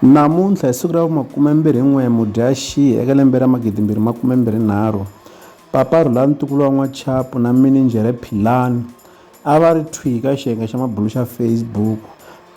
Namuntlha hi siku ra vu 21 Mudyaxihi eka lembe ra 2023, Papa Rhulani Ntukulu wa N'wachapu na Mininjhere Philani a va ri thwi eka xiyenge xa mabulo xa Facebook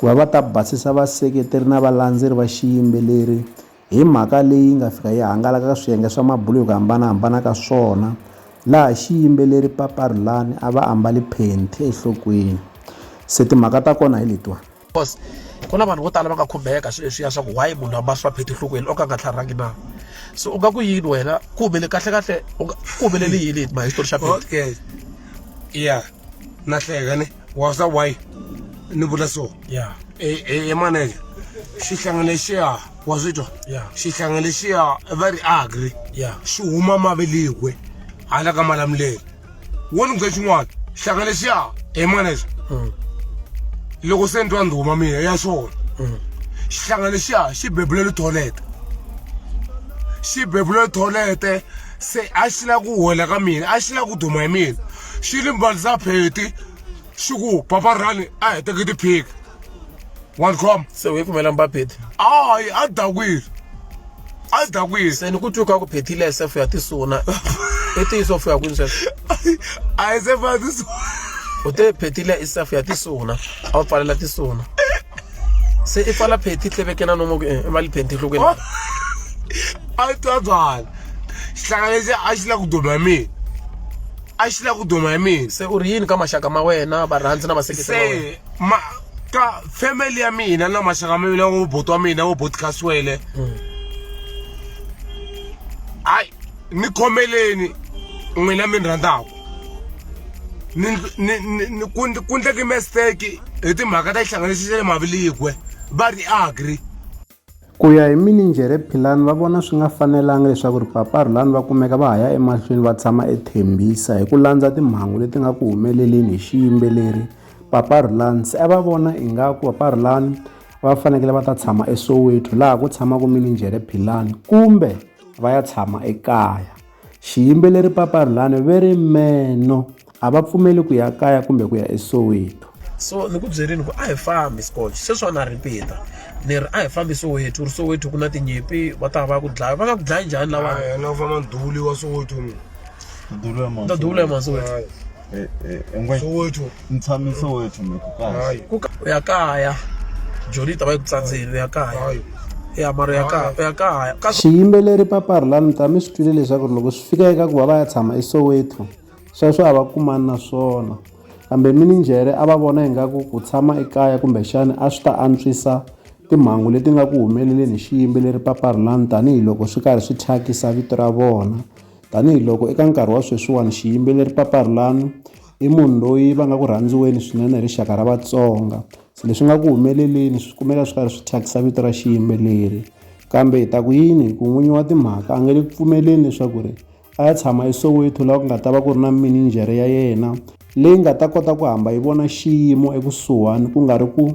ku va va ta basisa vaseketeri na valandzeri va xiyimbeleri hi mhaka leyi nga fika yi hangalaka ka swiyenge swa mabulo hi ku hambanahambana ka swona laha xiyimbeleri Papa Rhulani a va ambali phenthi enhlokweni. Se timhaka ta kona hi letiwani. course ku na vanhu vo tala va nga khumbeka swi leswiya swa ku why munhu a mahlwa pheti enhlokweni o ka nga tlharhangi na so u nga ku yini wena ku humele kahle kahle ku humelele yini ma history xa pheti okay ya na hleka ni wa sa why ni vula so ya e e, e maneke xihlangane xiya wa swi twa xihlangane xiya va ri agri xi huma mavelikwe hala ka malamulelo wo ni byela xin'wana xaka lexiya hi manexa loko se ni twa ndhuma mina ya xona xihlango lexiya xi bebule litholete xi bebule litholete se a xi lava ku hola ka mina a xi lava ku duma hi mina xi ni mbalisa pheti xi ku papa rani a heteke tiphiki one com se u yi kumela mbapeti ayi a dakwile a dakwile se ni ku twiuka ku phethile sf ya tisuna i tiyiso fuya kwini sweswo a yi se fa tisuna u te phethile i sf ya tisuna a wu pfalela tisuna se i pfala phethi tlevekena nomo eh, i mali phenti hlokweni a yi twa byala xihlanga lexi a xi la ku duma mina a xi la ku duma hi mina se u ri yini ka maxaka ma wena varhandzi na vaseketeri ma ka family ya mina na maxaka ma mina wo boti wa mina wo boti khaswele hmm. hayi ni khomeleni n'wina mi ni rhandzaka ku ndleki mistake hi timhaka ta xihlanganisi xa le maviligwe va ri agri Ku ya hi mininjhere Philani va vona swi nga fanelanga leswaku ri Papa Rhulani va kumeka va ha ya emahlweni va tshama eThembisa hi ku landza timhangu leti nga ku humeleleni hi xiyimbeleri Papa Rhulani se a va vona ingaku Papa Rhulani va fanekele va ta tshama eSoweto laha ku tshamaka mininjhere Philani kumbe va ya tshama ekaya. Xiyimbeleri Papa Rhulani ve ri meno a va pfumeli ku ya kaya kumbe ku ya eSoweto. So ni ku byerini ku a hi fambi Scotch sweswiwani a ripita ni ri a hi fambi Soweto ri Soweto ku na tinyimpi va ta va ku dlaya va nga ku dlayi njhani lawa na ku famba nduli wa Soweto nduli wa Soweto Eh, eh, engwe soweto ni tshame soweto mi ku kahle hayi ku ka u ya kaya joni yi ta va yi ku tsandzeni u ya kaya hayi u ya mara u ya kaya u ya kaya ka xiyimbeleri papari la ni ta mi swi twile leswaku loko swi fika eka ku va va ya tshama esoweto sweswo a va kumani na swona kambe mininjhere a va vona ingaku ku tshama ekaya kumbexani a swi ta antswisa timhangu leti nga ku humeleleni hi xiyimbeleri papari lani tanihiloko swi karhi swi thyakisa vito ra vona Tanihi loko eka nkarhi wa sweswiwani xiyimbeleri Papa Rhulani i munhu loyi va nga ku rhandziweni swinene hi rixaka ra Vatsonga se leswi nga ku humeleleni swi kumeka swi karhi swi thyakisa vito ra xiyimbeleri kambe hi ta ku yini hi ku n'winyi wa timhaka a nge le ku pfumeleni leswaku ri a ya tshama eSoweto laha ku nga ta va ku ri na mininjhere ya yena leyi nga ta kota ku hamba yi vona xiyimo ekusuhani ku nga ri ku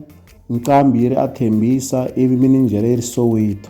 nqambi yi ri a Thembisa ivi mininjhere yi ri Soweto.